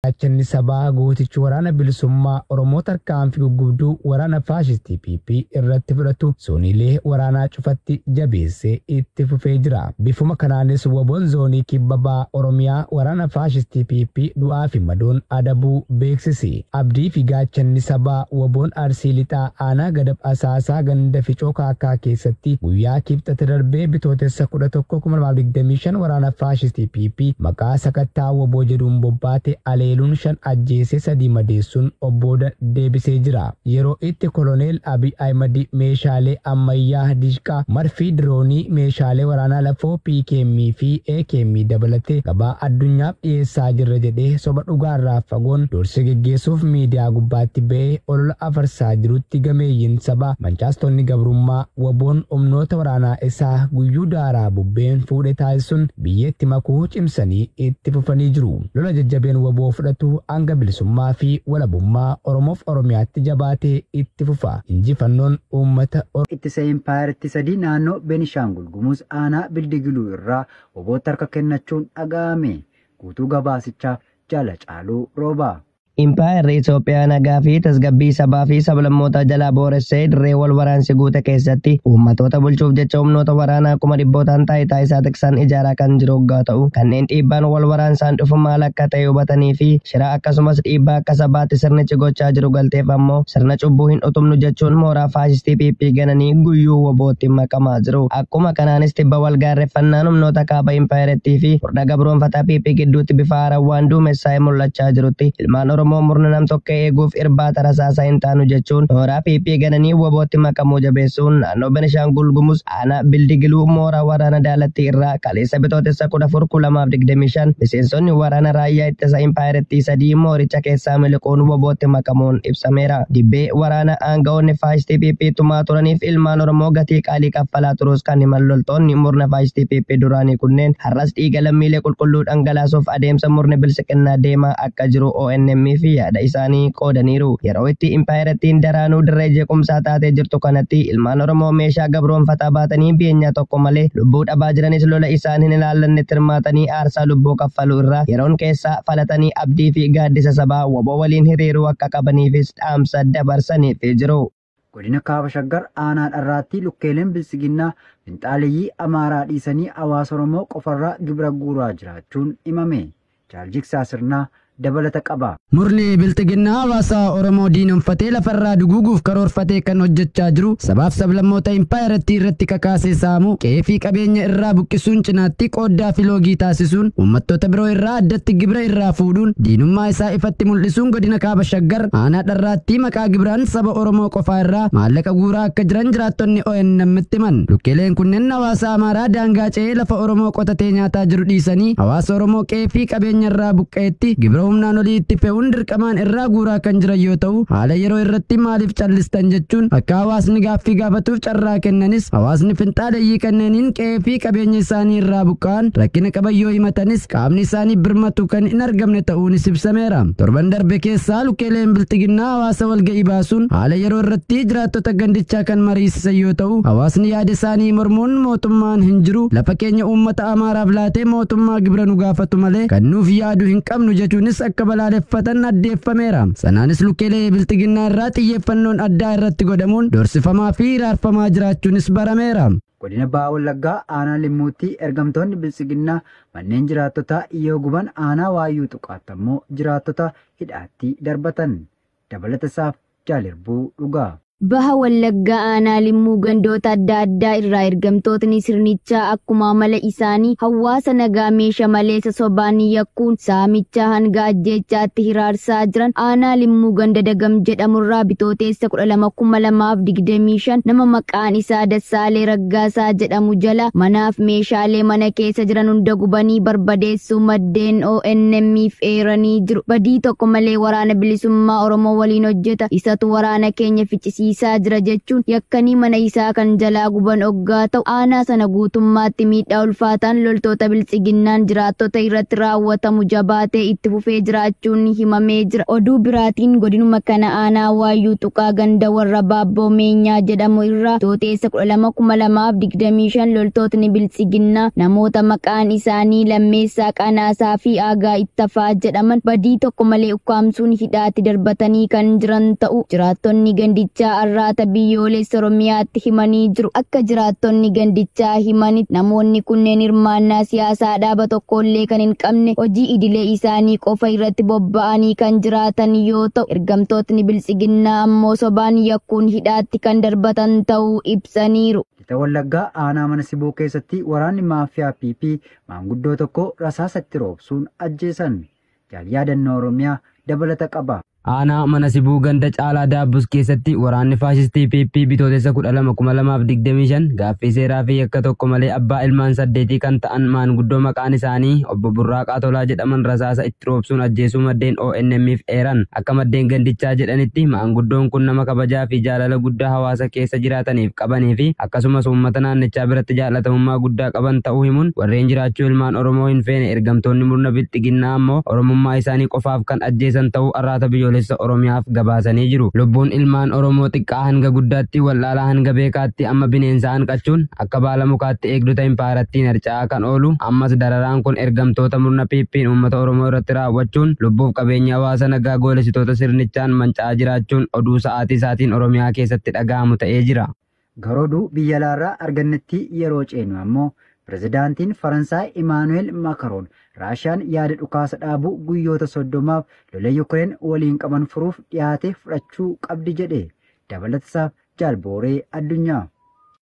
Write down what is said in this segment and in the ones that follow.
Gaachanni sabaa gootichi waraana bilisummaa Oromoo tarkaanfii guggubduu waraana faashistii PP irratti fudhatu zooniilee waraanaa cufatti jabeessee itti fufee jira. Bifuma kanaanis wbon zoonii kibba baha Oromiyaa waraana faashistii PP du'aa fi madoon adabuu beeksise. Abdii fi gaachanni sabaa wbon Arsii Lixaa aanaa Gadab Asaasaa ganda Ficoo Kaakkaa keessatti guyyaa Kibxata darbee Bitootessa 11, 2025 waraana faashistii PP maqaa sakattaa wbo jedhuun bobbaate aleeluun 5 ajjeesee 3 madeessuun of booda deebisee jira. Yeroo itti Koloneel Abiy Ahimad meeshaalee ammayyaa Dishqaa, Marfii, Diroonii, meeshaalee waraanaa lafoo, PKM fi AKM dabalatee gabaa addunyaaf dhiyeessaa jirra jedhee soba dhugaarraa fagoon dursee geggeessuuf miidiyaa gubbaatti ba'ee olola afarsaa jirutti gameeyyiin sabaa, mancaastonni gabrummaa, wbo'n humnoota waraanaa isaa guyyuu daaraa bubbeen fuudhe taasisuun, biyyeetti makuu cimsanii itti fufanii jiru. Lola jajjabeen wbo fudhatu hanga bilisummaa fi walabummaa Oromoof Oromiyaatti jabaatee itti fufa. Injifannoon uummata Oromoo. Ittisa Impaayerittii 3 Naannoo Benishaangul Gumuz Aanaa Bildigiluu irraa wbo tti harka kennachuun dhaga'ame. Guutuu gabaasichaaf Jaal Hacaaluu Roobaa. Impaayerri Itoophiyaa nagaa fi tasgabbii sabaa fi sablammootaa jalaa booressee dirree wal waraansi guute keessatti uummatoota bulchuuf jecha humnoota waraanaa kuma dhibbootaan taayitaa isaa tiksaan ijaaraa kan jiru oggaa ta'u kanneen dhiibbaan wal waraansaan dhufu maal akka ta'e hubatanii fi shira akkasumas dhiibbaa akka sabaatti sirnichi gochaa jiru galteef ammoo sirna cubbuu hin utubnu jechuun mooraa faashistii PP gananii guyyuu wobootti makamaa jiru. Akkuma kanaanis tibba wal gaarreffannaan humnoota kaaba impaayerattii fi murna gabroomfataa PP gidduutti bifa haaraan waan duumessaa'ee mul'achaa jirutti ilmaan Oromoo murna nam-tokkee eeguuf irbaata rasaasaa hin taanu jechuun nooraa PP gananii WBOtti makamuu jabeessuun naannoo Benishaangul Gumuz aanaa Bildigiluu mooraa waraana Daalattii irraa kaleessa Bitootessa 14, 2025 miseensonni waraana raayyaa ittisa impaayerattii sadii mooricha keessaa miliquun WBOtti makamuun ibsameera. Dibbee waraanaa aanga'oonni faashistii PP tumaa turaniif ilmaan Oromoo gatii Ali Kaffalaa Turuuskaan himan loltoonni murna faashistii PP duraanii kunneen har'as dhiiga lammiilee qulqulluu dhangalaasuuf adeemsa murni bilsiqinnaa deemaa akka jiru ONM'f yaada isaanii qoodaniiru. Yeroo itti impaayerattiin daraanuu dirree jeequmsaa taatee jirtu kanatti ilmaan Oromoo meeshaa gabroomfataa baatanii beenyaa tokko malee lubbuu dhabaa jiranis lola isaan hin ilaallannetti hirmaatanii aarsaa lubbuu kaffaluu irra yeroon keessaa falatanii abdii fi gaaddisa sabaa wbo waliin hiriiruu akka qabaniifis dhaamsa dabarsaniifii jiru. Godina Kaaba Shaggar aanaa dharraattii lukkeeleen biltsiginnaa finxaaleyyii Amaaraa dhiisanii hawaasa Oromoo qofarraa gibira guuraa jiraachuun himame. Jaal Jigsaa Sirnaa dabalata qaba. Murni bilxiginnaa hawaasa Oromoo diinomfatee lafarraa duguuguuf karoorfatee kan hojjechaa jiru sabaaf sablammoota impaayerattii irratti kakaasee saamuu, qe'ee fi qabeenya irraa buqqisuun cinaatti qooddaa fi loogii taasisuun uummattoota biroo irraa addatti gibira irraa fuudhuun diinummaa isaa ifatti mul'isuun godina Kaaba Shaggar aanaa dharraattii maqaa gibiraan saba Oromoo qofaa irraa maallaqa guuraa akka jiran jiraattonni ONM'tti himan. Lukkeeleen kunneen hawaasa Amaaraa daangaa ce'ee lafa Oromoo qotatee nyaataa jiru dhiisanii hawaasa Oromoo qe'ee fi qabeenya irraa buqqa'etti gibira humnaan olii itti fe'uun dirqamaan irraa guuraa kan jiran yoo ta'u haala yeroo irratti maaliif callistan jechuun akka hawaasni gaaffii gaafatuuf carraa kennanis hawaasni finxaaleyyii kanneeniin qe'ee qe'ee fi qabeenya isaanii irraa buqqa'an rakkina qaban yoo himatanis qaamni isaanii birmatu kan hin argamne ta'uunis ibsameera. Torban darbe keessaa lukkeeleen bilxiginnaa hawaasa walga'ii baasuun haala yeroo irratti jiraattota gandichaa kan mariisisan yoo ta'u hawaasni yaada isaanii mormuun mootummaan hin jiru lafa keenya uummata amaaraaf laatee mootummaa gibira nu gaafatu malee kan nuuf yaadu hin qabnu jechuunis akka balaaleffatan addeeffameera sanaanis lukkeelee bilxiginnaa irraa xiyyeeffannoon addaa irratti godhamuun doorsifamaa fi hiraarfamaa jiraachuunis barameera. Godina Baha Wallaggaa aanaa Limmuutti ergamtoonni Biltsiginnaa manneen jiraattotaa yoo guban aanaa Waayyuu Tuqaatti ammoo jiraattota hidhaatti darbatan. Dabalata isaaf Jaal Irbuu Dhugaa. Baha Wallaggaa aanaa Limmuu gandoota adda addaa irraa ergamtootni sirnichaa akkuma amala isaanii hawaasa nagaa meesha maleessa sobaan yakkuun saamichaa hanga ajjeechaatti hiraarsaa jiran aanaa Limmuu ganda Dagam jedhamurraa bitooteessa 12,2025 nama maqaa Maqaan isaa Dassaalee Raggaasaa jedhamu jala manaaf meeshaalee mana keessa jiran hunda gubanii barbadeessuu maddeen ONM'f eeranii jiru. Badii tokko malee waraana bilisummaa Oromoo waliin hojjeta, isatu waraana keenya ficcisiisaa jira jechuun yakkanii mana isaa kan jalaa guban oggaa ta'u, aanaa sana guutummaatti miidhaa ulfaataan loltoota biltsiginnaan jiraattota irratti raawwatamu jabaatee itti fufee jiraachuun himamee jira. Oduu biraatiin godinuma kana aanaa Waayyuu Tuqaa ganda Warrabaa Boomeenyaa jedhamu irraa Bitootessa 12,2025 loltootni Biltsiginnaa namoota maqaan isaanii Lammeessaa Qanaasaa fi Aagaa Ittafaa jedhaman badii tokko malee ukkaamsuun hidhaatti darbatanii kan jiran ta'uu jiraattonni gandichaa Arraata Biyyoolessa Oromiyaatti himanii jiru. Akka jiraattonni gandichaa himanitti namoonni kunneen hirmaannaa siyaasaa dhaaba tokkollee kan hin qabne hojii idilee isaanii qofa irratti bobba'anii kan jiraatan yoo ta'u, Ergamtootni Biltsiginnaa ammoo sobaan yakkuun hidhaatti kan darbatan ta'uu ibsaniiru. Lixa Wallaggaa aanaa mana Sibuu keessatti waraanni maafiyaa PP maanguddoo tokko rasaasa itti roobsuun ajjeesan. Jaal Yaadannoo Oromiyaa dabalata qaba. Aanaa mana Sibuu ganda Caalaa Daabbus keessatti waraanni faashistii PP Bitootessa 12,2025 gaaffii seeraa fi yakka tokko malee abbaa ilmaan saddeetii kan ta'an maanguddoo maqaan isaanii obbo Burraaqaa Tolaa jedhaman rasaasa itti roobsuun ajjeesuu maddeen ONM'f eeran. Akka maddeen gandichaa jedhanitti, maanguddoon kun nama kabajaa fi jaalala guddaa hawaasa keessa jiraataniif qabanii fi akkasumas uummata naannichaa biratti jaallatamummaa guddaa qaban ta'uu himuun, warreen jiraachuu ilmaan Oromoo hin feene ergamtoonni murna bilxiginnaa ammoo Oromummaa isaanii qofaaf kan ajjeesan ta'uu Arraata Biyyoolessa Oromiyaaf gabaasanii jiru. Lubbuun ilmaan Oromoo xiqqaa hanga guddaatti, wallaalaa hanga beekaatti amma bineensa hanqachuun, Akka baala mukaatti eegdota impaayarattiin harca'aa kan oolu, ammas dararaan kun ergamtoota murna PP'n uummata Oromoo irratti raawwachuun lubbuuf qabeenyi hawaasa nagaa goolessitoota sirnichaan manca'aa jiraachuun oduu sa'aatii isaatiin Oromiyaa keessatti dhagahamu ta'ee jira. Gara oduu biyya alaarraa argannetti yeroo ceenu ammoo Pirezidaantiin Faransaay Imaanu'eel Makaroon Raashiyaan yaada dhukaasa dhaabuu guyyoota 30f lola Yukireen waliin qaban furuuf dhiyaate fudhachuu qabdi jedhe. Dabalatasaaf Jaal Booree Addunyaa.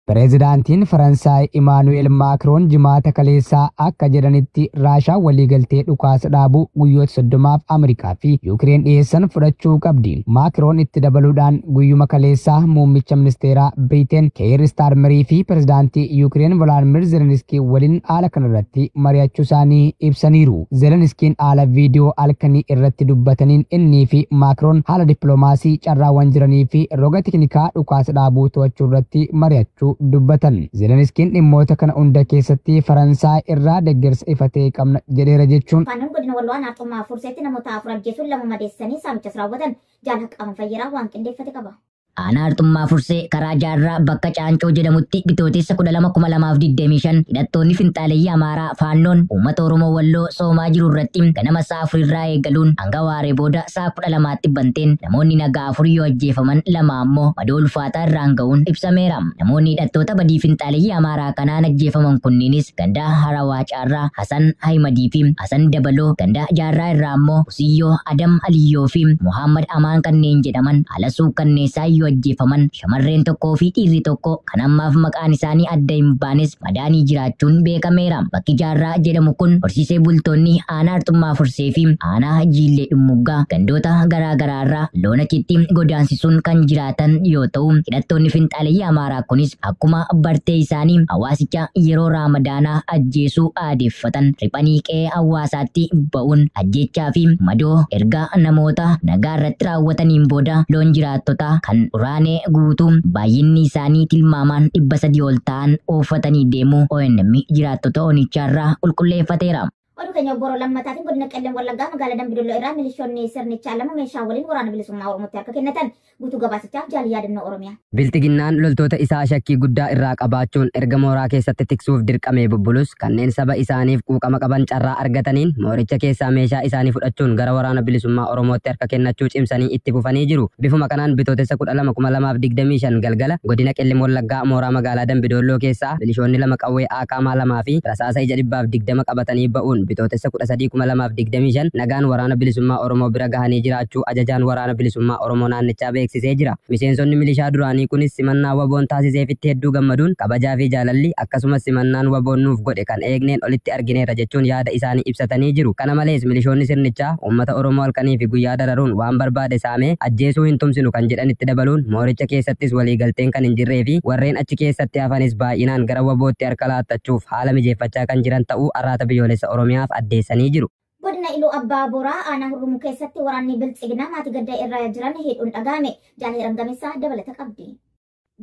Pireezidaantiin Faransaay Imaanu'eel Maakroon Jimaata kaleessaa akka jedhanitti Raashaan waliigaltee dhukaasa dhaabuu guyyoota soddomaaf Ameerikaa fi Yuukireen dhiyeessan fudhachuu qabdi. Maakroon itti dabaluudhaan guyyuma kaleessaa muummicha ministeeraa Biriteen Keeyir Istaarmerii fi pireezidaantii Yuukireen Volaadmiir Zeleniskii waliin haala kanarratti mari'achuu isaanii ibsaniiru. Zeleniskiin haala viidiyoo halkanii irratti dubbataniin innii fi Maakroon haala dippiloomaasii, carraawwan jiranii fi roga teknikaa dhukaasa dhaabuu to'achuu irratti mari'achuu dubbatan. Zeleniskiin dhimmoota kana hunda keessatti Faransaay irraa deggersa ifa ta'e qabna jedheera jechuun. Faannoon godina Walloo aanaa Xommaa Furseetti namoota afur ajjeesuun lama madeessanii saamichas raawwatan. Jaal Haqqaamuu Fayyeeraa waan qindeeffate qaba. Aanaa Arxummaa Fursee karaa Jaarraa bakka Caancoo jedhamutti Bitootessa 12,2025 hidhattoonni finxaaleyyii Amaaraa Faannoon uummata Oromoo Walloo soomaa jiru irratti ganama sa'a afur irraa eegaluun hanga waaree booda sa'a 12tti banteen namoonni nagaa afur yoo ajjeefaman lama ammoo madoo ulfaataa irraan ga'uun ibsameera. Namoonni hidhattoota badii finxaaleyyii Amaaraa kanaan ajjeefaman kunniinis gandaa Harawaa Jaarraa, Hasan Ahimadii fi Hasan Dabaloo, ganda Jaarraa irraa ammoo Usiyyoo, Adam Aliyyoo fi Muhaammad Amaan kanneen jedhaman haala suukkanneessaan yoo ajjeefaman, shamarreen tokkoo fi dhiirri tokko kan ammaaf maqaan isaanii adda hin baanes madaanii jiraachuun beekameera. Bakki Jaarraa jedhamu kun horsiisee bultoonni aanaa Arxummaa Fursee fi aanaa Jiillee Dhummuggaa gandoota garaa garaa irraa loon achitti godaansisuun kan jiraatan yoo ta'u, hidhattoonni finxaaleyyii Amaaraa kunis Akkuma bartee isaanii hawaasicha yeroo Raamadaanaa ajjeesuu aadeeffatan riphanii qe'ee hawaasaatti ba'uun ajjeechaa fi madoo erga namoota nagaa irratti raawwataniin booda loon jiraattotaa kan uraanee guutuu baay'inni isaanii tilmaamaan 300 ol ta'an oofatanii deemuu ONM jiraattota onichaarraa qulqulleeffateera. Oduu keenya obboroo lammataatiin godina Qellem Wallaggaa magaalaa Dambidolloo irraa milishoonni sirnichaa lama meeshaa waliin waraana bilisummaa Oromootti harka kennatan guutuu gabaasichaaf jaal yaadannoo Oromiyaa. Bilxiginnaan loltoota isaa shakkii guddaa irraa qabaachuun erga mooraa keessatti tiksuuf dirqamee bubbulus kanneen saba isaaniif quuqama qaban carraa argataniin mooricha keessaa meeshaa isaanii fudhachuun gara waraana bilisummaa Oromootti harka kennachuu cimsanii itti fufanii jiru. Bifuma kanaan bitootessa 12,2025 galgala godina Qellem Wallaggaa mooraa magaalaa Dambidolloo keessaa milishoonni lama qawwee akaamaa 2 fi rasaasa ija 120 qabatanii ba'uun Bitootessa 13, 2025 nagaan Waraana Bilisummaa Oromoo bira gahanii jiraachuu Ajajaan Waraana Bilisummaa Oromoo naannichaa beeksisee jira. Miseensonni milishaa duraanii kunis simannaa wbo-n taasiseefitti hedduu gammaduun kabajaa fi jaalalli akkasumas simannaan wbo-n nuuf godhe kan eegneen olitti argineerra jechuun yaada isaanii ibsatanii jiru. Kana malees milishoonni sirnichaa uummata Oromoo halkanii fi guyyaa dararuun waan barbaade saamee ajjeesuu hin tumsinu kan jedhan itti dabaluun mooricha keessattis waliigalteen kan hin jirree fi warreen achi keessatti hafanis baay'inaan gara wbo-tti harka laattachuuf haala mijeeffachaa kan jiran ta'uu Arraata Biyyoolessa Oromiyaaf addeessanii jiru. Godina Iluu Abbaa Booraa Aanaa Hurrumuu keessatti waraanni Biltsiginaa maatii gadda irra jiran hidhuun dhaga'ame. Jaal Hiram Gameessaa dabalata qabdi.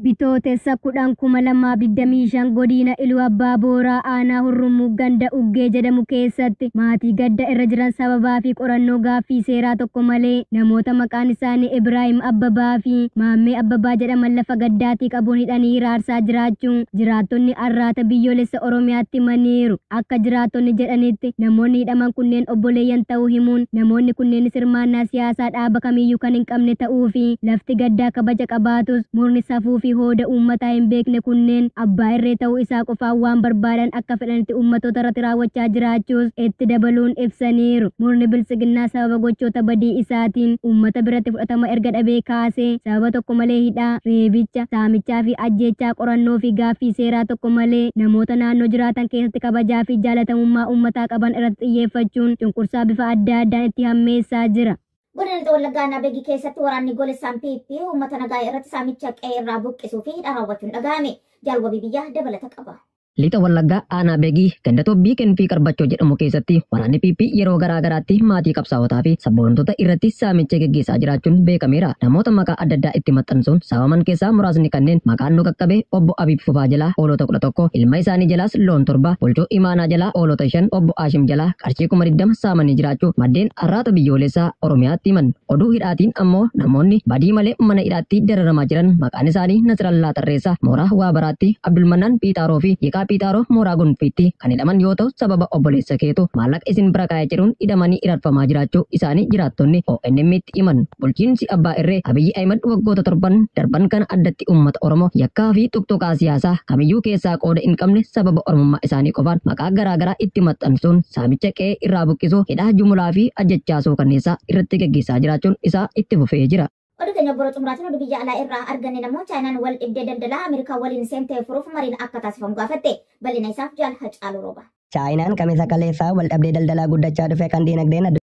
Bitootessa 10,2025 Godina Iluu Abbaa Booraa Aanaa Hurrumuu ganda Uggee jedhamu keessatti maatii gadda irra jiran sababaa fi qorannoo gaaffii seeraa tokko malee namoota maqaan isaanii Ibraahim Abbabaa fi Maammee Abbabaa jedhaman lafa bifa gaddaatii qabuun hidhanii hiraarsaa jiraachuu jiraattonni Arraata Biyyoolessa Oromiyaatti himaniiru. Akka jiraattonni jedhanitti namoonni hidhaman kunneen obboleeyyan ta'uu himuun namoonni kunneenis hirmaannaa siyaasaa dhaaba kamiiyyuu kan hin qabne ta'uu fi lafti gaddaa kabaja qabaatus murni safuu fi hooda uummataa hin beekne kunneen abbaa irree ta'uu isaa qofaan waan barbaadan akka fedhanitti uummattoota irratti raawwachaa jiraachuus itti dabaluun ibsaniiru. Murni Biltsiginnaa sababa gochoota badii isaatiin uummata biratti fudhatama erga dhabee kaasee sababa tokko malee hidhaa, reebicha, saamichaa fi ajjeechaa qorannoo fi gaaffii seeraa tokko malee namoota naannoo jiraatan keessatti kabajaa fi jaalatamummaa uummataa qaban irratti xiyyeeffachuun cunqursaa bifa adda addaan itti hammeessaa jira. Godina Lixa Wallaggaa Aanaa Begii keessatti waraanni goolessaan PP uummata nagaa irratti saamicha qe'ee irraa buqqisuu fi hidhaa raawwachuun dhaga'ame. Jaal Wabii Biyyaa dabalata qaba. Lixa Wallaggaa Aanaa Begii ganda Tobbii Kenfii Qarbachoo jedhamu keessatti waraanni PP yeroo garaa garaatti maatii qabsaawotaa fi sabboontoota irratti saamicha geggeessaa jiraachuun beekameera. Namoota maqaa adda addaa itti maxxansuun saamaman keessaa muraasni kanneen maqaan nu qaqqabe obbo Abiib Fufaa jalaa hoolota 11, ilma isaanii jalaas loon 7, bulchoo imaanaa jalaa hoolota 5, obbo Aashim jalaa qarshii 20,000 saamanii jiraachuu maddeen Arraata Biyyoolessaa Oromiyaatti himan. Oduu hidhaatiin ammoo namoonni badii malee mana hidhaatti dararamaa jiran maqaan isaanii Nasrallaa Tarreessaa mooraa Waabaraatti, Abdulmannaan Phiixaaroo fi Hiikaa Phiixaaroo mooraa Gonfiitti kan hidhaman yoo ta'u sababa obboleessa keetu maallaqa isin bira kaa'e jedhuun hidhamanii hirarfamaa jiraachuu isaanii jiraattonni ONM'tti himan. Bulchiinsi abbaa irree Abiyyi Ahimad waggoota torban darban kana addatti uummata Oromoo yakkaa fi xuqxuqaa siyaasaa kamiyyuu keessaa qooda hin qabne sababa Oromummaa isaanii qofaan maqaa garaa garaa itti maxxansuun saamicha qe'ee irraa buqqisuu, hidhaa jumulaa fi ajjechaa suukanneessaa irratti gaggeessaa jiraachuun isaa itti fufee jira. Oduu teenya obbora xumuraatiin oduu biyya alaa irraa arganne namoo Chaayinaan wal dhibdee daldalaa Ameerikaa waliin seentee furuuf mariin akka taasifamu gaafatte. Bal'ina isaaf Jaal Hacaaluu Rooba. Chaayinaan Kamisa kaleessaa wal dhabdee daldalaa guddachaa dhufe kan diinagdeen